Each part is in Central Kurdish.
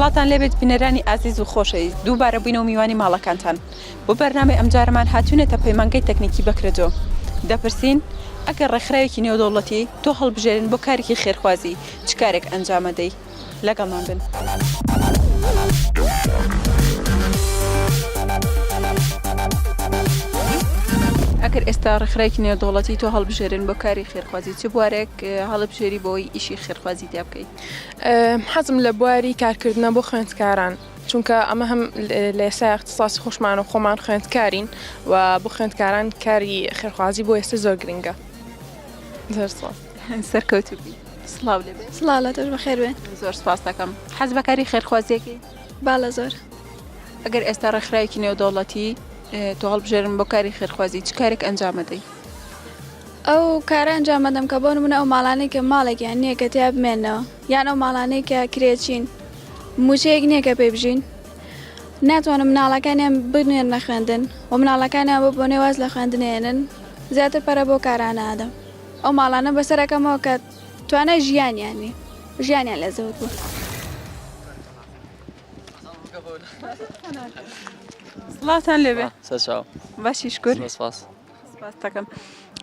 سڵاتان لێبێت بینەرانی ئازیز و خۆشەویست دووبارە بووینە و میوانی ماڵەکانتان بۆ بەرنامەی ئەمجارەمان هاتوونەتە پەیمانگەی تەکنیکی بەکرەجۆ دەپرسین ئەگەر ڕێکخراوێکی نێودەوڵەتی تۆ هەڵبژێرن بۆ کارێکی خێرخوازی چ کارێک ئەنجامەدەی لەگەڵمان بن. ئەکەر ئێستا ڕێکخراوێکی نێودەوڵەتی تۆ هەڵبژێرن بۆ کاری خێرخوازی چ بوارێک هەڵبژێری بۆی ئیشی خێرخوازی تیا بکەیت حەزم لە بواری کارکردنە بۆ خوێندکاران چونکە ئەمە هەم لە ئێستا اختصاصی خۆشمان و خۆمان خوێندکارین و بۆ خوێندکاران کاری خێرخوازی بۆ ئێستا زۆر گرنگە زۆر سڵاو. سەرکەوتوبی سڵاو لێبێ سڵاو لە تۆش بەخێر بێ زۆر سپاس دەکەم حەز بەکاری خێرخوازیەکی باڵە زۆر ئەگەر ئێستا ڕێکخراوێکی نێودەوڵەتی تۆ هەڵبژێرن بۆ کاری خێرخوازی چ کارێک ئەنجامەدەی ئەو کارە ئەنجامەدەم کە بۆ منە ئەو ماڵانەی کە ماڵێکیان نییە کە تیا بمێنەوە یان ئەو ماڵانەی کە کرێچین موچەیەک نییە کە پێ بژین ناتوانم مناڵەکانیان بنێن نەخوێندن و مناڵەکانیان بۆ بۆ نێواز لە خوێندنێنن زیاتر پەرە بۆ کارانە ئادەم ئەو ماڵانە بەسەر ئەکەمەوە کە توانای ژیانیان نی ژیانیان لە زەوت بوو. سڵاتان لێبێ سەرچاو باشی شکر سپاس سپاستەکەم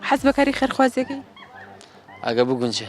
حەز بەکاری خێرخوازیەکەی ئەگە بگونجێ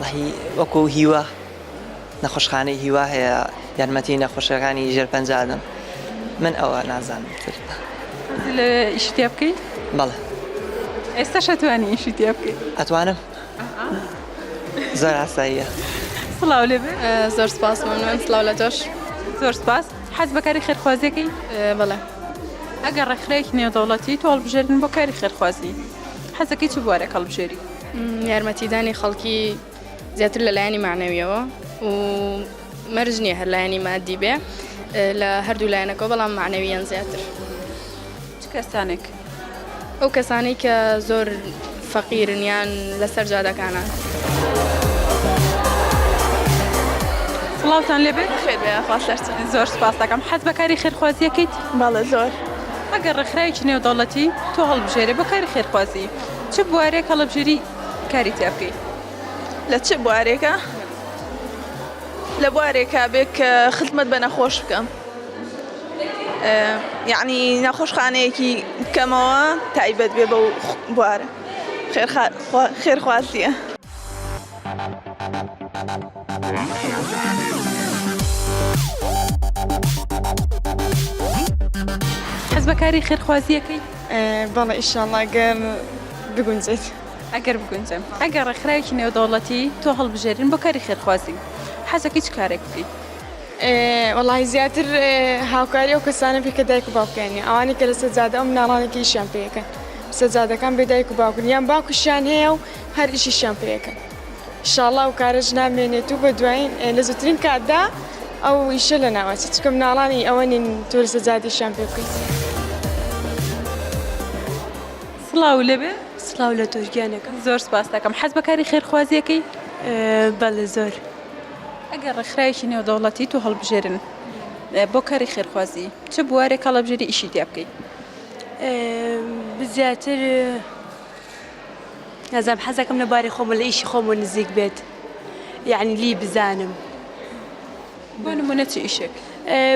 وەڵاهی وەکو هیوا نەخۆشخانەی هیوا هەیە یارمەتی نەخۆشەکانی ژێر پەنجادن من ئەوە نازانم تر لە ئیش تێ بکەی بەڵێ ئێستا شەتوانی ئیشی تێ بکەی ئەتوانم زۆر ئاساییە سڵاو لێ زۆر سپاس من سلااو لە تۆش زۆر سپاس حەز بەکاری خێرخوازیەکەی بەڵێ ئەگەر ڕێکخراێکی نێودەوڵەتی تۆڵبژێرن بۆ کاری خێرخوازی حەزەکەی چ بوارێک هەڵبژێری یارمەتیدانی خەڵکی زیاتر لە لایەنی معنەویەوە و مەرج نییە هەر لایەنی مادی بێ لە هەردوو لایەنەکە بەڵام معنەویان زیاتر کەسانێک ئەو کەسانەی کە زۆر فەقیرنیان لەسەر جادەکانە. سڵاوتان لێبێت خێر بێ خوا سەرچن. زۆر سپاس دەکەم حەز بەکاری خێرخوازیەکەیت بەڵێ زۆر ئەگەر ڕێکخراوێکی نێودەوڵەتی تۆ هەڵبژێرێ بۆ کاری خێرخوازی چ بوارێک هەڵەبژێری کاری تیا بکەی؟ لە چ بوارێکا؟ لە بوارێکا بێ کە خزمەت بە نەخۆش بکەم یعنی نەخۆشخانەیەکی کەمەوە تایبەت بێ بەو بوارە خێرخوازیە. حەز بە کاری خێرخوازیەکەی بەڵێ ئیشاڵا گەر بگونجێت ئەگەر بگونجم ئەگەر ڕێکخراوێکی نێودەوڵەتی تۆ هەڵبژێرین بۆ کاری خێرخوازی حەزەکەی چ کارێک بکەیت وڵی زیاتر هاوکاری ئەو کەسانە بکە دایک و باوکیانی ئەوانی کە لە سەجادە ئەم ناڵانێکی ئیشیان پێەکەن سەجادەکان بێدایک و باوکن یان باوکشیان هەیە و هەر ئیشیشیان پێ کەن ئیشاڵا ئەو کارەش نامێنێت و بە دوایین لە زووترین کاتدا ئەو ئیشە لە ناوەچێت چکە مناڵانی ئەوە نین تۆ لە سەجادیشیان پێ بکەیت. سڵاو لێبێ سڵاو لە تۆش گیانەکەم. زۆر سپاست دەکەم. حەز بە کاری خێرخوازی ئەکەی؟ بەڵێ زۆر. ئەگەر ڕێکخراوێکی نێودەوڵەتی تۆ هەڵبژێرن بۆ کاری خێرخوازی چ بوارێک هەڵەبژێری ئیشی تیا بکەی؟ زیاتر نازانم حەزەکەم لە باری خۆمە لە ئیشی خۆمە نزیک بێت یعنی لی بزانم بۆ نمونە چ ئیشێک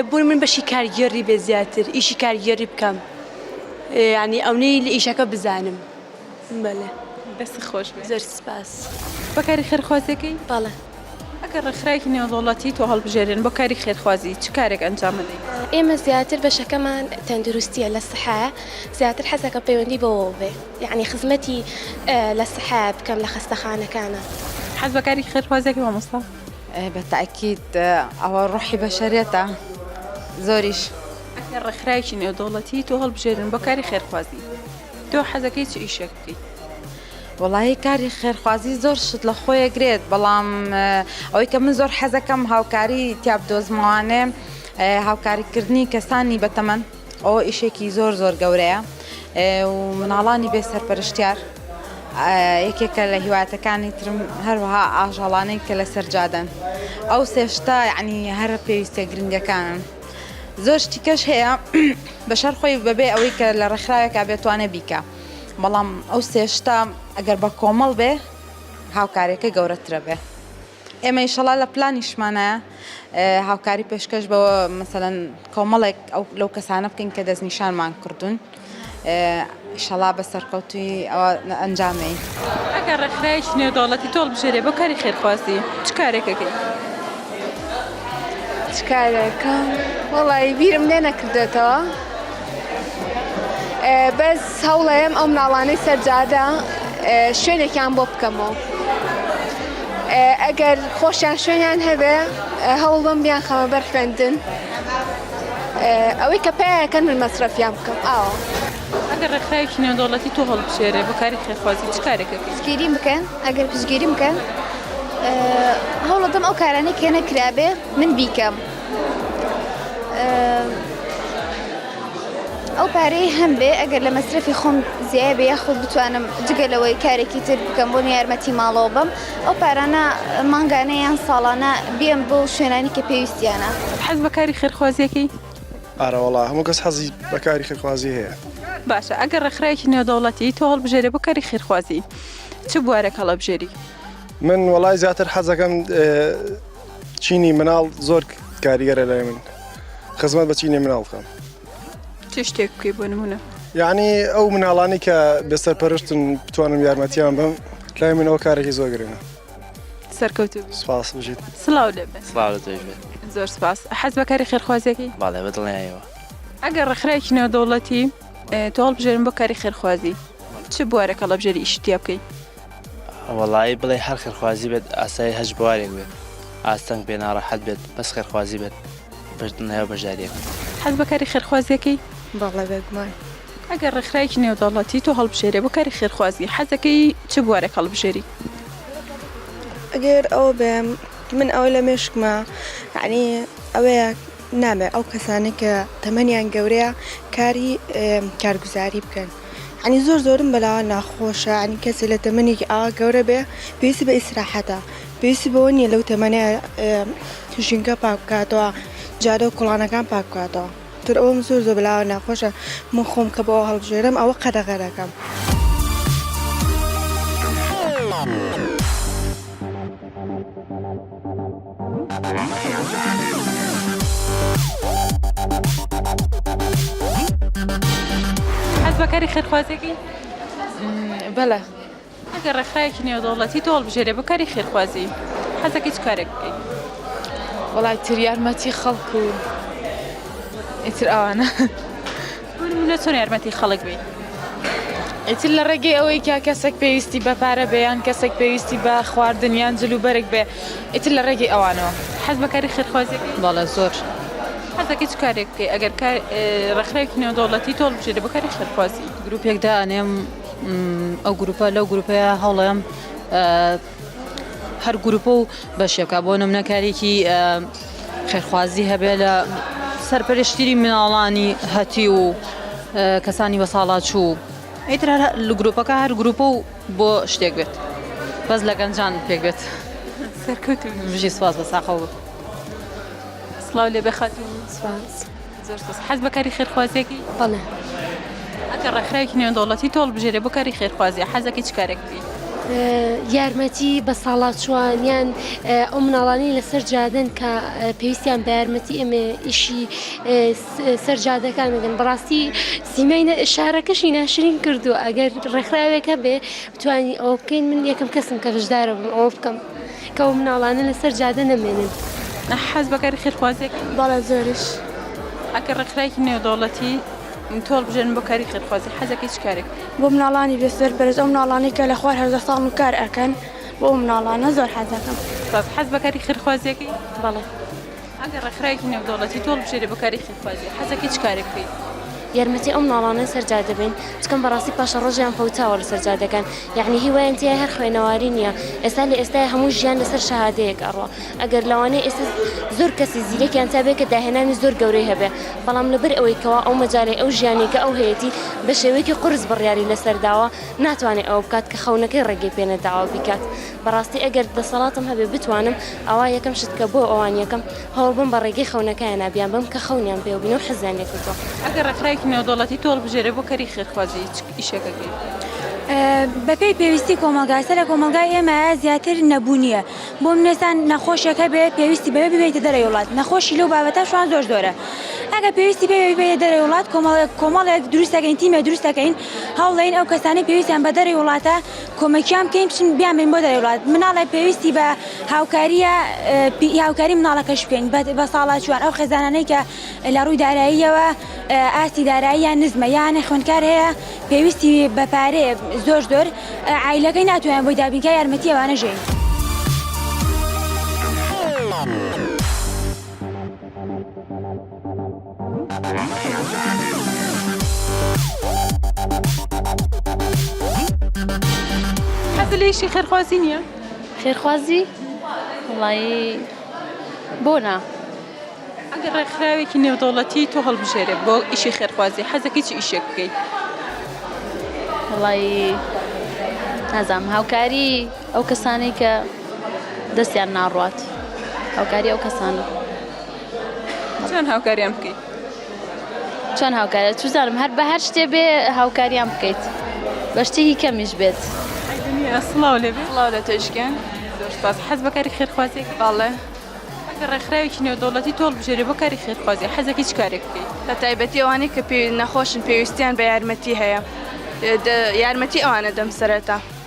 بۆ من بەشی کارگێڕی بێ زیاتر ئیشی کارگێڕی بکەم یعنی ئەونەی لە ئیشەکە بزانم بەڵێ دەست خۆش زەر سپاس بەکاری خەرخوازەکەی باڵە ئەگەر ڕێکخراوێکی نێودەوڵەتی تۆ هەڵبژێرێن بۆ کاری خێرخوازی، چ کارێک ئەنجام ئەدەیت؟ ئێمە زیاتر بەشەکەمان تەندروستییە لە سەحایە، زیاتر حەز ئەکەم پەیوەندی بەوەوە بێ، یەعنی خزمەتی لە سەحایە بکەم لە خەستەخانەکانا. حەز بە کاری خێرخوازی ئەکەی مامۆستا؟ ئەی بە تەئکید، ئەوە ڕۆحی بەشەریەتە زۆریش. ئەگەر ڕێکخراوێکی نێودەوڵەتی تۆ هەڵبژێرن بۆ کاری خێرخوازی، تۆ حەز ئەکەیت چ ئیشێک بکەیت؟ وەڵاهی کاری خێرخوازی زۆر شت لە خۆیە گرێت بەڵام ئەوەی کە من زۆر حەزەکەم هاوکاری تیاب دۆزمەوانێ هاوکاریکردنی کەسانی بەتەمەن ئەوە ئیشێکی زۆر زۆر گەورەیە و مناڵانی بێ سەرپەرشتیار یەکێکە لە هیواتەکانی ترم هەروها ئاژەڵانەی کە لە سەرجادەن ئەو سێشتا یعنی هەر پێویستە گرنگەکانن زۆر شتیکەش هەیە بەشەر خۆی بەبێ ئەوەی کە لە ڕێکخراوێکا بێتوانێ بیکە. بەڵام ئەو سێشتا ئەگەر بە کۆمەڵ بێ هاوکاریەکە گەورەترە بێ ئێمە ئیشەڵا لە پلانیشمانە هاوکاری پێشکەش بە مەسەەن کۆمەڵێک لەو کەسانە بکەین کە دەستنیشانمان کردوون شەڵا بە سەرکەوتوی ئەوە ئەنجامەی ئەگەر ڕێکخراوێکی نێودەوڵەتی تۆڵ بژێرێ بۆ کاری خێرخواستی چ کارێکەکەی چ کارێکە وەڵی بیرم لێ نەکردێتەوە بەس هەوڵەیەم ئەو مناڵانەی سەرجادە شوێنێکیان بۆ بکەمەوە ئەگەر خۆشیان شوێنیان هەبێ هەوڵ بم بیان خەمە بەر خوێندن ئەوەی کە پیاکەن من مەسرەفیان بکەم ئاوە ئەگەر ڕێکخراوێکی نێودەوڵەتی تۆ هەڵبژێرێ بەکاری خێخوازی چ کارێکە پشتگیری بکەن ئەگەر پشتگیری بکەن هەوڵەدەم ئەو کارانەی کێ نەکرابێ من بیکەم. ئەو پارەی هەم بێ ئەگەر لە مەسرفی خۆم زیای بە یاخود بتوانم جگە لەوەی کارێکی تر بکەم بۆ یارمەتی ماڵەوە بم ئەو پارانە مانگانە یان ساڵانە بێم بۆ شوێنانی کە پێویستیانە حەز بە کاری خێرخوازیەکەی ئارەوەڵا هەموو کەس حەزی بەکاری خێرخوازی هەیە باشە ئەگەر ڕێکخراێکی نێودەوڵەتی تۆ هەڵبژێرە بۆ کاری خێرخوازی چ بوارێک هەڵەبژێری من وەڵای زیاتر حەزەکەم چینی مناڵ زۆر کاریگەرە لای من خزمەت بە چینی مناڵ بکەم چ شتێک بکەی بۆ نمونە یعنی ئەو مناڵانی کە بەسەر پەرشتن بتوانم یارمەتیان بم لای منەوە کارێکی زۆر گرنە سەرکەوت سپاس بژیت سلااو لەبێت زۆر سپاس حەز بەکاری خێرخوازێکی باڵێ بەدڵنیایەوە ئەگەر ڕخراکی ناودەوڵەتی تۆڵ بژێرم بۆ کاری خێرخوازی چ بوارەکە ڵەبژێری ئیشتیا بکەیت وەڵایی بڵێ هەر خێرخوازی بێت ئاسایی هەچ بوارێک بێت ئاستەنگ بێ ناڕەحەت بێت بەس خێرخوازی بێت بەردنەوە بەشداریەکە. حەز بە کاری خێرخوازیەکەی؟ بەڵێ بێگومان. ئەگەر ڕێکخراوێکی نێودەوڵەتی تۆ هەڵبژێرێ بۆ کاری خێرخوازی حەزەکەی چ بوارێک هەڵبژێری؟ ئەگەر ئەوە بێم من ئەوە لە مێشکمە یانی ئەوەیە نابێت ئەو کەسانەی کە تەمەنیان گەورەیە کاری کارگوزاری بکەن عنی زۆر زۆرم بەلاوە ناخۆشە عنی کەسێ لە تەمەنێکی ئا گەورە بێ پێویستی بە ئیسراحەتە پێویستی بەوە نییە لەو تەمەنێ ژینگە پاک بکاتەوە جادە و کوڵانەکان پاک بکاتەوە تر ئەوم زۆر زۆر بەلاوە ناخۆشە من خۆم کە بەوە هەڵبژێرم ئەوە قەدەغە دەکەم. حەز بە کاری خێرخوازێکی؟ بەڵێ ئەگەر ڕێکخراوێکی نێودەوڵەتی تۆ هەڵبژێرێ بۆ کاری خێرخوازی حەزەکەی چ کارێک بکەیت؟ وەڵای تر یارمەتی خەڵک و ئیتر ئەوانە. بۆ نمونە چۆن یارمەتی خەڵک بەیت ئیتر لە ڕێگەی ئەوەی کە کەسێک پێویستی بە پارە بێ یان کەسێک پێویستی بە خواردن یان جل و بەرگ بێ ئیتر لە ڕێگەی ئەوانەوە. حەز بە کاری خێرخوازی ئەکەی؟ بەڵێ زۆر. حەز دەکەی چ کارێک بکەی ئەگەر کار ڕێکخراوێکی نێودەوڵەتی تۆ هەڵبژێرێ بۆ کاری خێرخوازی؟ گروپێک دائەنێم ئەو گروپە لەو گروپەیە هەوڵ ئەیەم هەر گروپە و بەشێکە بۆ نمونە کارێکی خێرخوازی هەبێ لە سەرپەرشتیری مناڵانی هەتی و کەسانی بە ساڵاچوو ئیتر لە گروپەکە هەر گروپە و بۆ شتێک بێت بەس لە گەنجان پێک بێت سەرکەوت بژی سواز بە ساقەوە سڵاو لێ بخات سپاس. زۆر سوپاس. حەز بە کاری خێرخوازیەکی؟ بەڵێ. ئەگەر ڕێکخراوێکی نێودەوڵەتی تۆ هەڵبژێرێ بۆ کاری خێرخوازی حەزەکەی چ کارێک بکەی؟ یارمەتی بەساڵاچووان یان ئەو مناڵانەی لەسەر جادەن کە پێویستیان بە یارمەتی ئێمە ئیشی سەر جادەکان بگەن بەڕاستی سیمای شارەکەشی ناشرین کردو ئەگەر ڕێکخراوێکە بێ توانی ئەو بکەین من یەکەم کەسم کە بەشدارە بم ئەو بکەم. کە ئەو مناڵانە لەسەر جادە نەمێنن. حەز بە کاری خێرخوازییە؟ بەڵێ زۆریش. ئەگەر ڕێکخراوێکی نێودەوڵەتی تۆ هەڵبژێرن بۆ کاری خێرخوازی حەزەکەی چ کارێک بکەی؟ بۆ مناڵانی بێ سەر پەرست ئەو مناڵانەی کە لە خوار هەژدە ساڵن و کار ئەکەن بۆ ئەو مناڵانە زۆر حەز دەکەم. سپاس. حەز بە کاری خێرخوازییەکەی؟ بەڵێ. ئەگەر ڕێکخراوێکی نێودەوڵەتی تۆ هەڵبژێرێ بۆ کارێکی خوازی، حەزەکەی چ کارێک بکەی؟ یارمەتی ئەو مناڵانەی سەر جادە بین بکەم بەڕاستی پاشەڕۆژیان فەوتاوە لەسەر جادەکان یەعنی هی وایان تیایە هەر خوێنەواری نیە ئێستا لە ئێستای هەموو ژیان لەسەر شەهادەیەک ئەڕوا ئەگەر لەوانەیە ئێستا زۆر کەسی زیرەکیان تیابێ کە داهێنانی زۆر گەورەی هەبێ بەڵام لەبەر ئەوەی کەوا ئەو مەجالەی ئەو ژیانی کە ئەو هەیەتی بە شێوەیەکی قورس بڕیاری لەسەر داوە ناتوانێ ئەوە بکات کە خەونەکەی ڕێگەی پێ نەداوە بیکات بەڕاستی ئەگەر دەسەڵاتم هەبێ بتوانم ئەوا یەکەم شت کە بۆ ئەوان یەکەم هەوڵ بم بە ڕێگەی خەونەکایانە بیان بەم کە خەونیان پێوە بینە و حەزیان لێ کردووە. ئەگەر ڕێکخراوێکی نێودەوڵەتی تۆ هەڵبژێرێ بۆ کەری خێرخوازی چ ئیشێکەکەی؟ بە پێی پێویستی کۆمەڵگا، سەر لە کۆمەڵگای ئێمە زیاتر نەبوونییە. بۆ منێسان نەخۆشێک هەبێ پێویستی بەوێ ببێیتە دەرەوی وڵات، نەخۆشی لەو بابەتە شوان زۆر زۆرە. ئەگەر پێویستی بێ ببێیە دەرەوی وڵات کۆمەڵێک کۆمەڵێک دروست دەکەین تیمێ دروست دەکەین هەوڵ دەین ئەو کەسانەی پێویستیان بە دەرەوی وڵاتە کۆمەکیان بکەین بچین بیانبەین بۆ دەرەوەی وڵات مناڵێ پێویستی بە هاوکاریە هاوکاری مناڵەکەش بکەین بە ساڵاچوان ئەو خێزانانەی کە لە ڕووی داراییەوە ئاستی داراییان نزمە یانە خوێندکار هەیە پێویستی بە پارێ زۆر زۆر ئایلەکەی ناتوانێت بۆی دابینکە یارمەتی ئەوانە ژین. حەزت لە ئیشی خێرخوازی نییە؟ خێرخوازی وڵایی بۆ نا؟ ئەگەر ڕێکخراوێکی نێودەوڵەتی تۆ هەڵبژێرێ بۆ ئیشی خێرخوازی حەزەکەی چ ئیشێک بکەیت؟ وڵایی نازانم هاوکاری ئەو کەسانەی کە دەستیان ناڕوات هاوکاری ئەو کەسانە. چۆن هاوکاریان بکەیت؟ چۆن هاوکاریان چزانم هەر بە هەر شتێ بێ هاوکاریان بکەیت بە شتێکی کەمیش بێت. سڵاو لێ سڵاو لە تۆشکیان زۆرپاس حەز بەکاری خێرخوازی باڵێ ڕێکخراوێکی نێودەوڵەتی تۆڵ بژێری بۆ کاری خێرخوازی حەزەکەی چ کارێک بکەیت بە تایبەتی ئەوانەی کە پێ نەخۆشن پێویستیان بە یارمەتی هەیە یارمەتی ئەوانە دەم سەرەتا.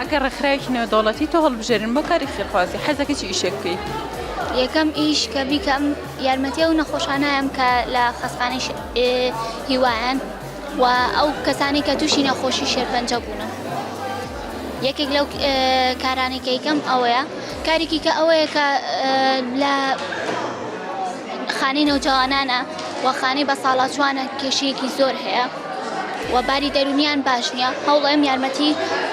ئەگەر ڕێکخراوێکی نێودەوڵەتی تۆ هەڵبژێرن بۆ کاری خێرخوازی، حەزدەکەی چ ئیشێک بکەی؟ یەکەم ئیش کە بیکەم یارمەتی ئەو نەخۆشانەم کە لە خەستخانەی هیوایان و ئەو کەسانی کە تووشی نەخۆشی شێرپەنجە بوونە یەکێک لەو کارانی کەیکەم ئەوەیە کارێکی کە ئەوەیە کە لە خانی نەوجوانانە وەخانی بە ساڵاچوانە کێشەیەکی زۆر هەیە. و باری دەرونیان باش نیە هەوڵێم یارمەتی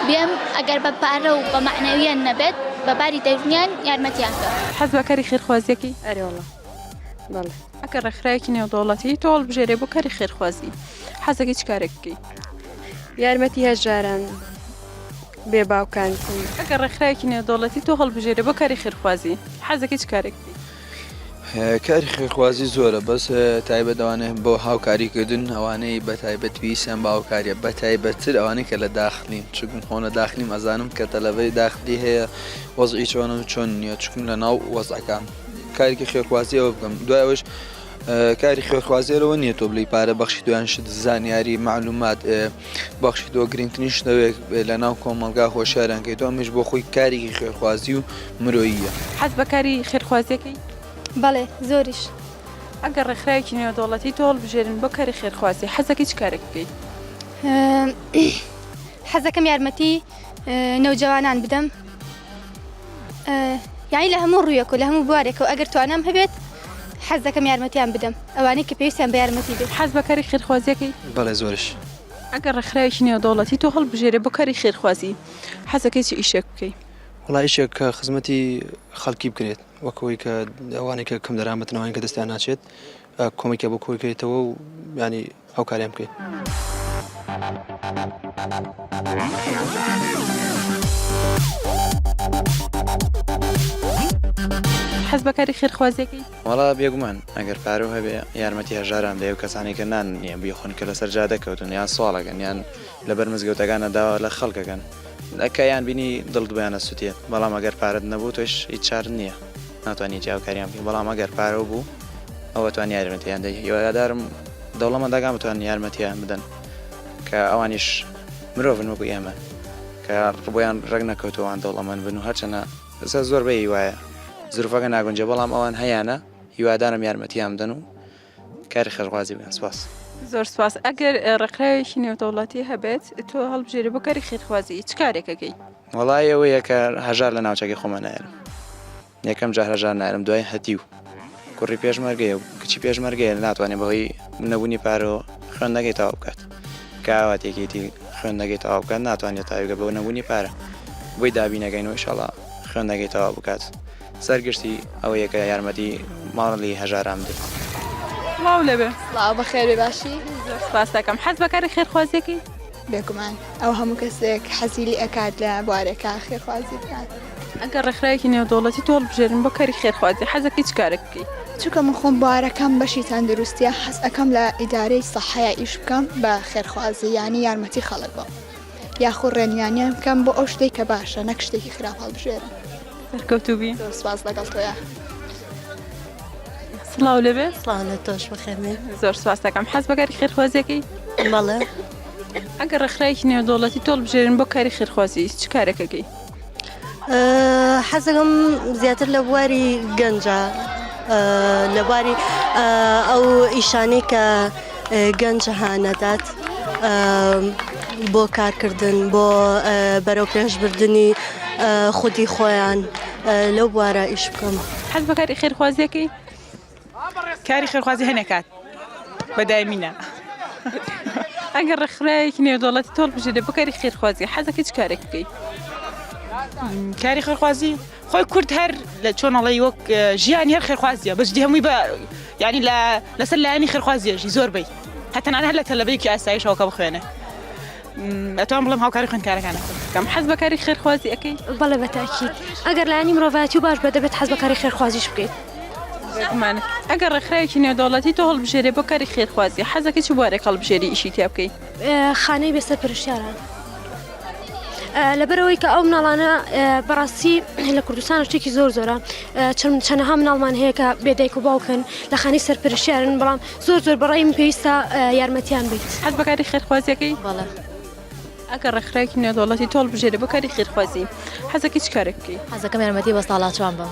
بێم ئەگەر بە پارە و بە مەعنەویان نەبێت بە باری دەرونیان یارمەتیان بێم. حەز بە کاری خێرخوازیەکەی؟ ئەرێ وەڵا بەڵێ. ئەگەر ڕێکخراوێکی نێودەوڵەتی تۆ هەڵبژێرێ بۆ کاری خێرخوازی حەزەکەی چ کارێک بکەی؟ یارمەتی هەژاران بێ باوکان. ئەگەر ڕێکخراوێکی نێودەوڵەتی تۆ هەڵبژێرێ بۆ کاری خێرخوازی حەزەکەی چ کارێک بکەی؟ کاری خێرخوازی زۆرە بەس تایبەت ئەوانێ بۆ هاوکاریکردن ئەوانەی بە تایبەت پێویستیان بە هاوکاریە بە تایبەتتر ئەوانەی کە لە داخلین چکم خۆنە داخلیم ئەزانم کە تەلەبەی داخلی هەیە وەزعی چۆنە چۆن نیە چکم لە ناو وەزعەکان کارێکی خێرخوازی ئەوە بکەم دوایەوەش کاری خوێخوازی لەوە نییە تۆ بلی پارە بەخشی دویان شت زانیاری معلومات بەخشی تۆ گرنگترین شتەوێک لە ناو کۆمەلگا هۆشارانکەی تۆ ئەمیش بۆ خۆی کارێکی خوێخوازی و مرۆییە حەز بەکاری خێرخوازیەکەی بەڵێ زۆریش ئەگەر ڕێکخراوێکی نێودەوڵەتی تۆڵ بژێرن بۆ کاری خێرخوازی حەزەکەی چ کارێک بکەیت حەزەکەم یارمەتی نەوجەوانان بدەم یاعی لە هەموو ڕویەک و لە هەموو بوارێک و ئەگەر توانم هەبێت حەز دەکەم یارمەتیان بدەم ئەوانەی کە پێویستیان بە یارمەتی بێت حەز بەکاری خێرخوازیەکەی بەڵێ زۆرش ئەگەر ڕێکخراوێکی نێودەوڵەتی تۆ هەڵبژێرێ بۆ کاری خێرخوازی حەزەکەی چ ئیشێک بکەی وڵایشێک کە خزمەتی خەڵکی بکرێت وەکەوەی کە ئەوانێکە کەم دەرامەتنەوەین کە دەستیان ناچێت کۆمیکە بۆ کۆیکەیتەوە و ینی هاوکاریان بکەین. حەز بەکاری خێرخوازیەکەی وڵا بێگومان ئەگەر پارو هەبێ یارمەتی هەژاران دەێ و کەسانی کە نان نییە بیخۆن کە لەسەر جا دەکەوتن یان سوواڵەکەن یان لەبەر مزگەوتەکانە داوا لە خەڵکەکەن ئەکەیان بینی دڵدویانە سووتێت بەڵام ئەگەر پارت نەبوو تۆش هیچ چار نییە ناتوانانی جیاوکاریان بی بەڵام ئەگەر پارە بوو ئەوە توانیارێنەتیان دەی هیوادارم دەوڵەمەندەکان بتوانن یارمەتیان بدەن کە ئەوانیش مرۆڤن وەکو ئێمە کە ڕبۆیان ڕێک نەکەوتو ئەوان دەوڵەمەند بن و هەرچەنە ئێستا زۆر بەی وایە زروفەکە ناگونجێ بەڵام ئەوان هەیانە هیوادارم یارمەتیان بدەن و کاری خێرخوازی بکەن سپاس. زۆر سپاس ئەگەر ڕێکخراوێکی نێودەوڵەتی هەبێت تۆ هەڵبژێری بۆ کاری خێرخوازی چ کارێکەکەی؟ وەڵا ئێوەیە کە هەژار لە ناوچەکەی خۆمان نایەنم. یەکەم جار هەژار نایەلم دوای هەتیو کوڕی پێشمەرگەیە و کچی پێشمەرگەیە ناتوانێت بەهۆی نەبوونی پارەوە خوێندنەکەی تەواو بکات کاوات یەکێتی خوێندنەکەی تەواو بکات ناتوانێت تاویگە بەو نەبوونی پارە بۆی دابینەکەین و ئیشەڵا خوێندنەکەی تەواو بکات سەرگشتی ئەوە یەکە یارمەتی ماڵی هەژاران بدەیت. سڵاو لەوێ سڵاو بەخێرێ باشی سپاس دەکەم حەز بەکاری خێرخوازیەکەی بێگومان ئەو هەموو کەسێک حەزی لێ ئەکات لە بوارێکا خێرخوازی بکات. ئەگەر ڕێکخراوێکی نێودەوڵەتی تۆ هەڵبژێرن بۆ کاری خێرخوازی حەزەکەی چ کارێک بکەی؟ چونکە من خۆم بوارەکەم بەشی تەندروستییە حەز ئەکەم لە ئیدارەی سەحەیا ئیش بکەم بە خێرخوازی یانی یارمەتی خەڵک بم یاخو ڕێنویانیان بکەم بۆ ئەو شتەی کە باشە نەک شتێکی خراپ هەڵبژێرن. سەرکەوتوبی زۆر سپاس لەگەڵ تۆیە سڵاو لەبێ سڵاو لە تۆش بخێنێ زۆر سپاس دەکەم حەز بەگەری خێرخوازیەکەی مەڵێ ئەگەر ڕێکخراوێکی نێودەوڵەتی تۆڵ بژێرن بۆ کاری خێرخوازی چ کارێکەکەی حەزەکەم زیاتر لە بواری گەنجە لەباری ئەو ئیشانەی کە گەنج هانەدات بۆ کارکردن بۆ بەرەو پێشبردننی خودی خۆیان لەو بوارە ئیش بکەم حەز بە کاری خێرخوازیەکەی کاری خێرخوازی هەنێکات بەدایمینە. ئەگەر ڕێکخراوێکی نێودەوڵەتی تۆڵ بژێدە بکاری خێرخوازی حەزەکەی چ کارێک بکەیت کاری خێرخوازی خۆی کورد هەر لە چۆن ئەڵی وەک ژیان هەر خێخوازیە بەجدی هەمووی بە یعنی لە لەسەر لایەنی خێخوازیێژی زۆر بی هەتەنان هەر لە تەلەبێکی ئاسایشەوەکە بخوێنێ ئەتوان بڵم هاوکاری خوێنکارەکانە کەم حەز بەکاری خێرخوازی ئەەکەی بەڵێ بەتاکیت ئەگەر لایانی مرۆڤاتی و باش بە دەبێت حەز بەکاری خێرخوازیش بکەیت زمانت ئەگەر ڕێکخراوێکی نێودەوڵەتی تۆ هەڵبژێرێ بۆ کاری خێرخوازی حەزەکە چ بوارێک هەڵبژێری ئیشی تیا بکەیت خانەی بێسەر پرشتیاران. لەبەرەوەی کە ئەو مناڵانە بەڕاستی لە کوردستان شتێکی زۆر زۆرە چەند چەنەها مناڵمان هەیە کە بێدایک و باوکن لە خانی سەرپەرشیارن بەڵام زۆر زۆر بەڕیم پێویستە یارمەتیان بیت هەز بەکاری خێرخوازیەکەی بەڵێ ئەگە ڕێکخراکی نێودوڵەتی تۆڵ بژێری بۆ کاری خێرخوازی حەزەکە چ کارێک بکەیت حەزەکەم یارمەتی بە ساڵاچوان بم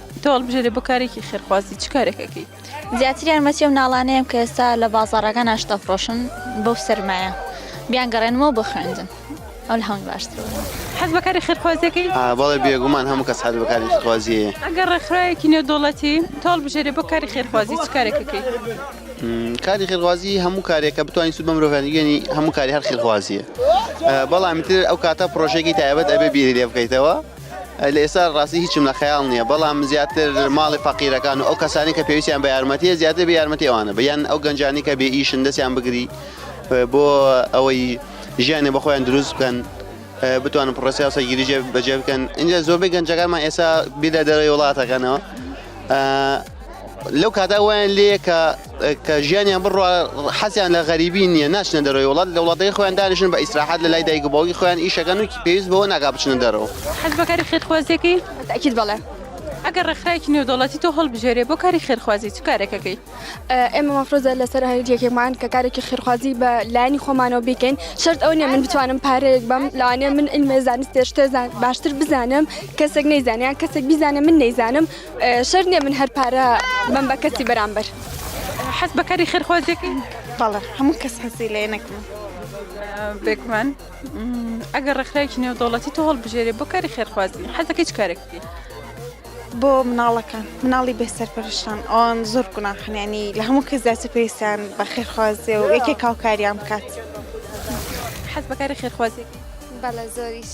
تۆ هەڵبژێرە بۆ کارێکی خێرخوازی چ کارێک ئەکەی؟ زیاتر یارمەتی ئەو ناڵانەیەم کە ئێستا لە بازاڕەکان ئاشتەفرۆشن بەو سەرمایە بیان گەڕێنمەوە بۆ خوێندن ئەو لە هەمووی باشتر بوو. حەز بە کاری خێرخوازیەکەی؟ ئا بەڵێ بێگومان هەموو کەس حەز بە کاری خێرخوازیەیە. ئەگەر ڕێکخراوێکی نێودەوڵەتی تۆ هەڵبژێرێ بۆ کاری خێرخوازی چ کارێک ئەکەی؟ کاری خێرخوازی هەموو کارێک کە بتوانین سوود بە مرۆڤیان بگەێنی هەموو کاری هەر خێرخوازیە بەڵام تر ئەو کاتە پرۆژێکی تایبەت ئەبێ بیری لێ بکەیتەوە لە ئێستا ڕاستی هیچم لە خەیاڵ نییە بەڵام زیاتر ماڵی فەقیرەکان و ئەو کەسانی کە پێویستیان بە یارمەتیە زیاتر بە یارمەتی ئەوانە بە یان ئەو گەنجانی کە بێ ئیشن دەستیان بگری بۆ ئەوەی ژیانێ بە خۆیان دروست بکەن بتوانن پڕسیا سەگیری جێ بەجێ بکەن اینجا زۆربەی گەنجەکانمان ئێستا بیدا دەرەوەی وڵاتەکەنەوە لەو کاتا وایان لێ کە کە ژیانیان بڕوا حەزیان لە غەریبی نییە ناچنە دەرەوەی وڵات لە وڵاتەکەی خۆیان دانیشن بە ئیسراحەت لە لای دایک و باوکی خۆیان ئیشەکەن و پێویست بەوە ناکا بچنە دەرەوە. حەز بە کاری خێرخوازییەکەی؟ تەئکید بەڵێ. ئەگەر ڕێکخراوێکی نێودەوڵەتی تۆ هەڵبژێرێ بۆ کاری خێرخوازی چ کارێک ئەکەی؟ ئێمە مەفرۆزە لەسەر هەر یەکێکمان کە کارێکی خێرخوازی بە لایەنی خۆمانەوە بیکەین شەرت ئەوە نییە من بتوانم پارەیەک بەم لەوانەیە من عیلمێ زانستێ شتێ باشتر بزانم کەسێک نەیزانێ یان کەسێک بیزانێ من نەیزانم شەرت نیە من هەر پارە بەم بە کەسی بەرامبەر. حەز بە کاری خێرخوازیەکەی؟ بەڵێ هەموو کەس حەزی لێ نەکەم. بێگومان ئەگەر ڕێکخراوێکی نێودەوڵەتی تۆ هەڵبژێرێ بۆ کاری خێرخوازی حەزەکەی چ کارێک بکەی؟ بۆ مناڵەکان مناڵی بێ سەرپەرشتان ئەوان زۆر گوناحنیانی لە هەموو کەس زیاتر پێویستیان بە خێرخوازیە و یەکێک هاوکاریان بکات. حەز بە کاری خێرخوازیەکەی؟ بەڵێ زۆریش.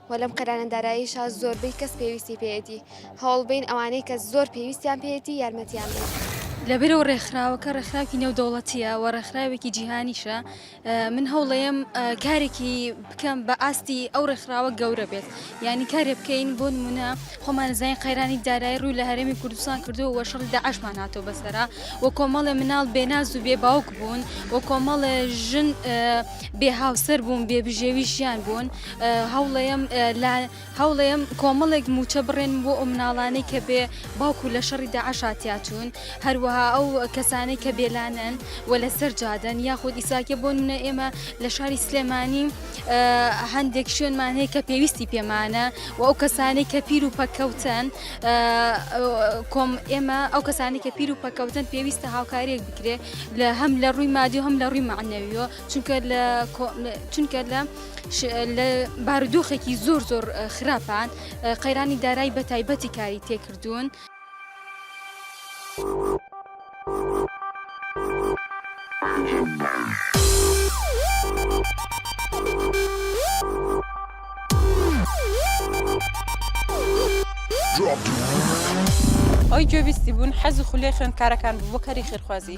وە لەم قەیرانە داراییشا زۆربەی کەس پێویستی پێیەتی هەوڵ بەین ئەوانەی کە زۆر پێویستیان پێیەتی یارمەتیان بەین. لەبەرئەوە ڕێکخراوەکە ڕێکخراوکی نێودەوڵەتیە وە ڕێکخراوێکی جیهانیشە من هەوڵەیەم کارێکی بکەم بە ئاستی ئەو ڕێکخراوە گەورە بێت یانی کارێ بکەین بۆ نمونە خۆمان زانین قەیرانی دارایی ڕووی لە هەرێمی کوردستان کردو وە شەڕی داعشمان هاتۆ بەسەرا وە کۆمەڵێ مناڵ بێ ناز و بێ باوک بوون وە کۆمەڵێ ژن بێ هاوسەر بوون بێ بژێوی ژیان بوون هەوڵەیەم کۆمەڵێک مووچە بڕێنم بۆ ئەو مناڵانەی کە بێ باوک و لە شەڕی داعشا تیاچوون هەروەها ئەو کەسانەی کە بێلانەن و لەسەر جادەن یاخود ئیساکە بۆ نمونە ئێمە لە شاری سلێمانی هەندێک شوێنمان هەیە کە پێویستی پێمانە و ئەو کەسانی کە پیر و پەککەوتن کۆم ئێمە ئەو کەسانی کە پیر و پەککەوتن پێویستە هاوکاریەک بکرێ لە هەم لە ڕووی مادی و هەم لە ڕووی مەعنەویەوە. چونکە لە چونکە لە لە بارودۆخێکی زۆر زۆر خراپان قەیرانی دارایی بە تایبەتی کاری تێکردوون. ئەوەی گوێبیستی بوون حەز و خولەی خوێندکارەکان بوو بۆ کاری خێرخوازی